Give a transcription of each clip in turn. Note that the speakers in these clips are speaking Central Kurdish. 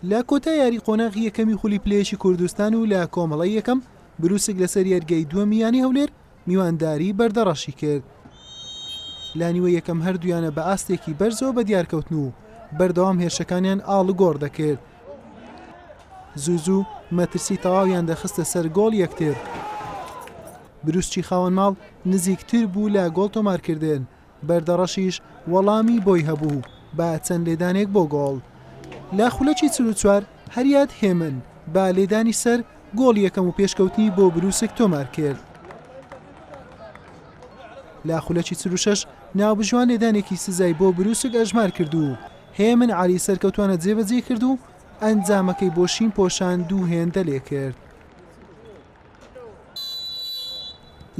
لە کۆتا یاری قۆناغی یەکەمی خولی پلەیەکی کوردستان و لە کۆمەڵی یەکەم بروسک لەسەر یاریگای دووەمی یانی هەولێر میوانداری بەردەڕەشی کرد. لە نیوە یەکەم هەردوویانە بە ئاستێکی بەرزەوە بە دیارکەوتن و بەردەوام هێرشەکانیان ئاڵوگۆڕ دەکرد. زوو زوو مەترسی تەواویان دەخستە سەر گۆڵ یەکتر. بروسکی خاوەن ماڵ نزیکتر بوو لە گۆڵ تۆمارکردن، بەردەڕەشیش وەڵامی بۆی هەبوو با چەند لێدانێک بۆ گۆڵ لە خولەکی چل و چوار هەریاد هێمن بە لێدانی سەر گۆڵی یەکەم و پێشکەوتنی بۆ برووسک تۆمارکرد. لە خولەکی چل و شەش ناوبژیوان لێدانێکی سزای بۆ برووسک ئەژمارکرد و هێمن عەلی سەرکەوتووانە جێبەجێی کرد و ئەنجامەکەی بۆ شین پۆشان دوو هێندە لێکرد.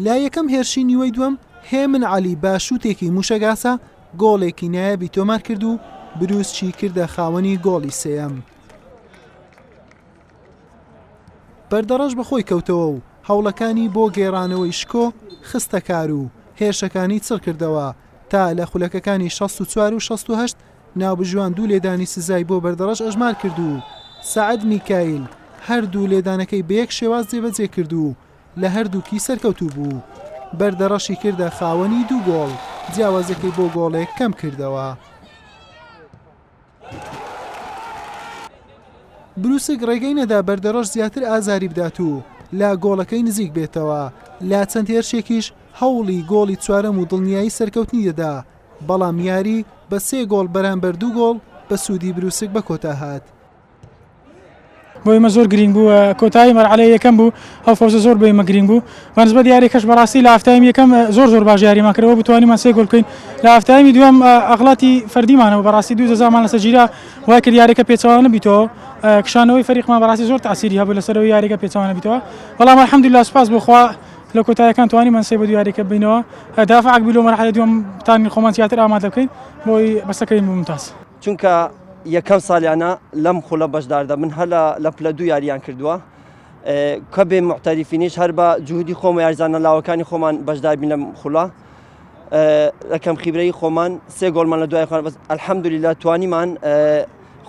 لە یەکەم هێرشی نیوەی دووەم هێمن عەلی بە شووتێکی مووشەگاسە گۆڵێکی نایەبی تۆمار کرد و بروسچی کردە خاوەنی گۆڵی سێەم. بەردەڕەش بەخۆی کەوتەوە و هەوڵەکانی بۆ گێڕانەوەی شکۆ خستەکار و هێرشەکانی چڕکردەوە تا لە خولەکەکانی 64 و 16 ناوبژیوان دوو لێدانی سزای بۆ بەردەڕەش ئەژمار کرد و سەعد میکایل هەردوو لێدانەکەی بە یەک شێواز جێبەجێ کرد و لە هەردووکی سەرکەوتوو بوو، بەردەڕەشی کردە خاوەنی دوو گۆڵ، جیاوازییەکەی بۆ گۆڵێک کەمکردەوە. بروسک ڕێگەی نەدا بەردەڕەش زیاتر ئازاری بدات و لە گۆڵەکەی نزیک بێتەوە، لە چەند هێرشێکیش هەوڵی گۆڵی چوارەم و دڵنیایی سەرکەوتنی دەدا، بەڵام یاری بە سێ گۆڵ بەرامبەر دوو گۆڵ بە سوودی بروسک بە کۆتا هات. بۆ ئێمە زۆر گرنگ بوو کۆتایی مەرحلە یەکەم بوو ئەو فەوزە زۆر بۆ ئێمە گرنگ بوو بەنسبە دیارێکەش بەڕاستی لە هەفتایم یەکەم زۆر زۆر باش یاریمان کردەوە بتوانیمان سێ گۆل بکەین لە هەفتایمی دوم ئەغڵاتی فەردیمانەوە بەڕاستی دوو جەزامان لەسەر گیرا وای کرد یاریەکە پێچوانە بیتەوە کشانەوەی فەریقمان بەڕاستی زۆر تاسیری هەبوو لەسەرەوە یاریەکە پێچوانە بیتەوە بەڵام الحمدلله سپاس بۆخوا لە کۆتاییەکان توانیمان سێ بە دوو یاریەکە بینەوە دافع عەگبی لۆ مەرحەلە دووەم تانین خۆمان زیاتر ئامادە بکەین بۆی بەسەکەین ممتاز چونکە یەکەم سالیانە لەم خولە بەشدار دەبن هەر لە پلە دوو یاریان کردووە کە بێ معتەریفینیش هەر بە جوودی خۆمە یارزانە لاوەکانی خۆمان بەشداربین لەم خولە لەکەم خیبرەی خۆمان سێ گۆڵمان لە دوای خۆ بەس ئەلحەمدولی لە توانیمان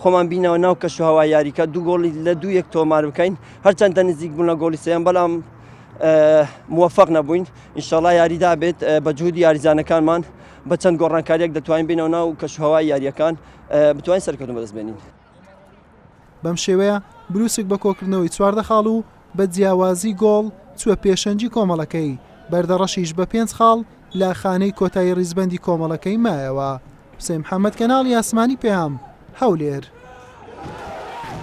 خۆمان بینەوە ناو کەش و هەوا یاریکە دوو گۆڵی لە دوو یەک تۆمار بکەین هەرچەندە نزیک بوون لە گۆڵی سێن بەڵام موفق نەبووین ئینشاڵا یاریدا بێت بە جوودی یاریزانەکانمان بە چەند گۆڕانکاریەک دەتوانین بینەوە ناو کەشوهوای یاریەکان بتوانین سەرکەوتن بەدەست بێنین بەم شێوەیە بروسک بە کۆکردنەوەی چواردە خاڵ و بە جیاوازی گۆڵ چوە پێشەنجی کۆمەڵەکەی بەردەڕەشیش بە پێنج خاڵ لە خانەی کۆتایی ڕیزبەندی کۆمەڵەکەی مایەوە حسین محەممەد کەناڵی ئاسمانی پێام هەولێر.